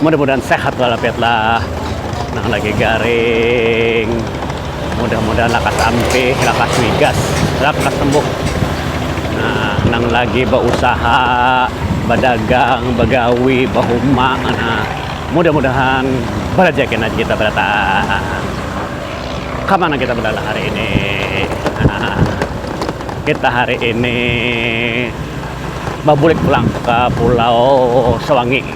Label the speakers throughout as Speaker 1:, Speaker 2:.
Speaker 1: Mudah mudahan sehat walafiat lah nang lagi garing mudah mudahan lakas ampih lakas wigas lakas sembuh nah nang lagi bausaha badagang bagawi bahuma nah mudah mudahan barajaki nah kita barataan kamana kita balalah hari ini nah kita hari ini babulik pulang ka pulau sawangi.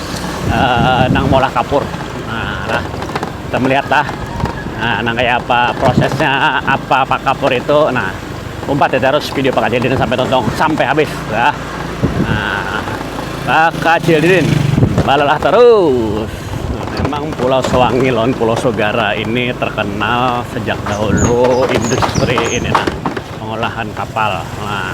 Speaker 1: uh, nang molah kapur nah, nah kita melihat lah nah, nang kayak apa prosesnya apa pak kapur itu nah umpat ya terus video pak Cildin sampai tonton sampai habis ya nah pak Cildin balalah terus memang Pulau Sewangi lawan Pulau Sogara ini terkenal sejak dahulu industri ini nah pengolahan kapal nah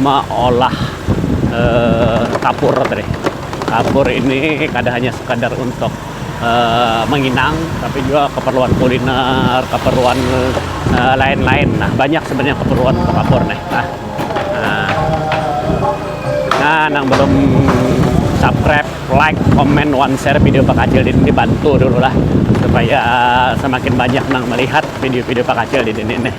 Speaker 1: meolah kapur tadi kapur ini kada hanya sekadar untuk menginang tapi jua keperluan kuliner keperluan lain-lain nah banyak sebenarnya keperluan untuk kapur nih nah nah nang belum subscribe like comment one share video pak kacil di sini bantu dulu lah supaya semakin banyak nang melihat video-video pak kacil di sini nih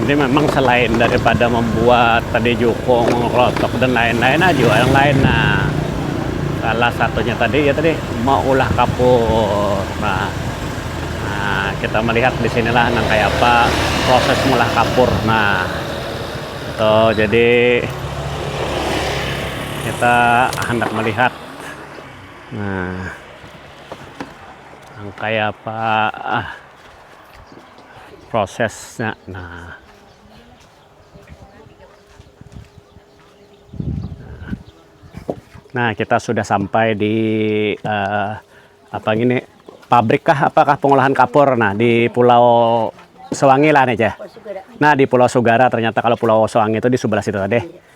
Speaker 1: Jadi memang selain daripada membuat tadi jukung, menglotok dan lain-lain aja ah, yang lain nah salah satunya tadi ya tadi mau ulah kapur. Nah, nah kita melihat di sinilah nang kayak apa proses mulah kapur. Nah, itu jadi kita hendak melihat nah yang kayak apa ah. prosesnya nah nah kita sudah sampai di uh, apa gini pabrik kah apakah pengolahan kapur nah di pulau Sewangi lah nih cah nah di pulau Sugara ternyata kalau pulau Sewangi itu di sebelah situ tadi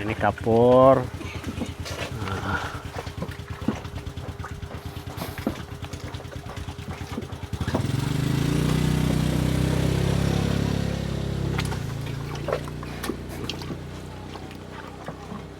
Speaker 1: ini kapur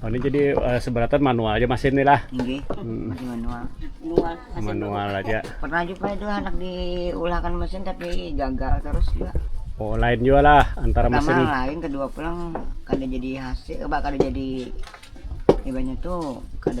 Speaker 1: Ini jadi uh, seberatan manual aja mesin nih lah. Nggih, hmm. masih
Speaker 2: manual. Manual, masih manual
Speaker 1: aja. Pernah juga itu anak
Speaker 2: diulahkan mesin tapi gagal terus juga. Oh, lain juga
Speaker 1: lah antara Pertama mesin. lain, kedua
Speaker 2: pulang kada jadi hasil, eh, kada jadi ibaratnya tuh kada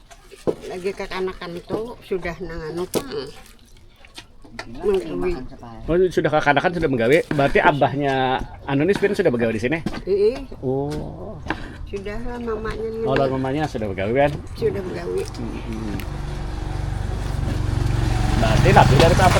Speaker 3: lagi kekanakan itu sudah nanganu pang
Speaker 1: menggawi oh, sudah kekanakan sudah menggawi berarti abahnya anu ini sebenarnya sudah begawi di sini Ii. oh sudah
Speaker 3: lah mamanya ini. oh mamanya sudah
Speaker 1: begawi kan sudah begawi
Speaker 3: hmm.
Speaker 1: berarti lebih dari apa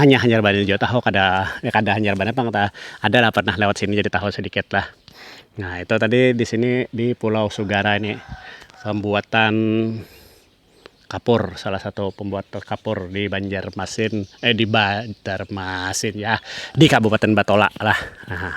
Speaker 1: Hanya hanyar banyu jua tahu kada ya kada hanyar banar pang ta ada lah pernah lewat sini jadi tahu sedikit lah nah itu tadi di sini di pulau sugara ini pembuatan kapur salah satu pembuat kapur di banjarmasin eh di banjarmasin yah di kabupaten batola lah nah.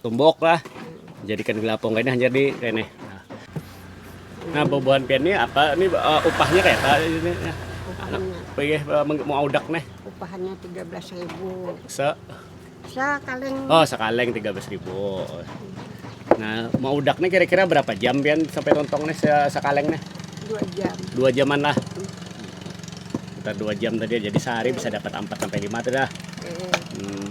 Speaker 1: Tumbuk lah, jadikan gula apung kayni hanyar di kayni. Nah, bubuhan pian nih apa nih upahnya kaya apa ini?
Speaker 3: Maudak nih.
Speaker 1: Upahannya tiga belas
Speaker 3: ribu. Se? Sakaleng. Oh, sakaleng
Speaker 1: tiga belas ribu. Nah, maudak nih kira-kira berapa jam pian sampai tontong nih sakaleng nih? Dua jam.
Speaker 3: Dua jaman lah.
Speaker 1: Sekitar dua jam tadi, jadi sehari bisa dapat empat sampai lima tuh dah. Hmm.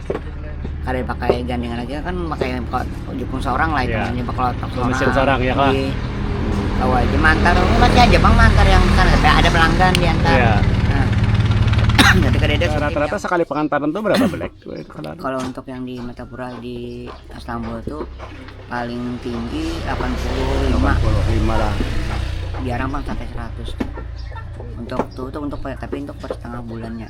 Speaker 2: kada pakai gandingan lagi kan pakai jukung seorang lah itu yeah. bakal seorang seorang ya kan
Speaker 1: bawa
Speaker 2: aja mantar masih aja bang mantar yang kan ada pelanggan di antar
Speaker 1: yeah. Nah, rata-rata sekali pengantaran tuh berapa belek kalau untuk
Speaker 2: yang di Matapura di Istanbul tuh paling tinggi 85 85 lah jarang bang sampai 100 untuk tuh, tuh untuk tapi untuk per setengah bulannya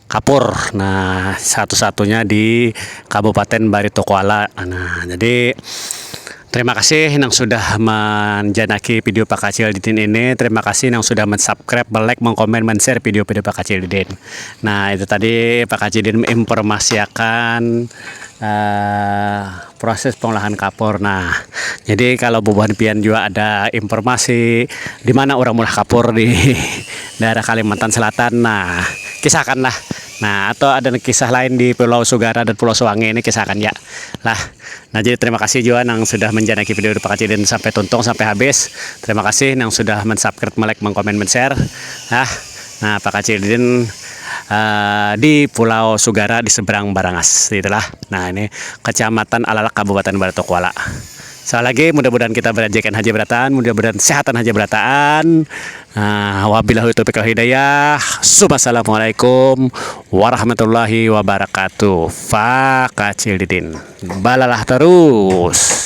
Speaker 1: Kapur nah satu-satunya di Kabupaten Barito Kuala nah jadi terima kasih nang sudah manjanaki video Pakacil Didin ini terima kasih nang sudah mensubscribe melike mengkomen menshare video-video Pakacil Didin nah itu tadi Pakacil Didin menginformasiakan uh. proses pengolahan kapur nah jadi kalau bubuhan pian jua ada informasi dimana urang meulah kapur di daerah kalimantan selatan nah kisah akan lah nah atau ada nang kisah lain di pulau sugara dan pulau suwangi ini kisah akan ja lah nah jadi terima kasih jua nang sudah menjanaki video dupa kacidin sampai tuntung sampai habis terima kasih nang sudah mensubkrip melike mengkomen menshare nah Nah, Pakacilin uh, di Pulau Sugara di seberang Barangas, itulah. Nah, ini Kecamatan Alalak, Kabupaten Baratok Kuala. Sekali lagi, mudah-mudahan kita berajakan haji berataan, mudah-mudahan sehatan haji berataan. Nah, wabillahi taufiq wal hidayah. Assalamualaikum warahmatullahi wabarakatuh. Pakacilin. Balalah terus.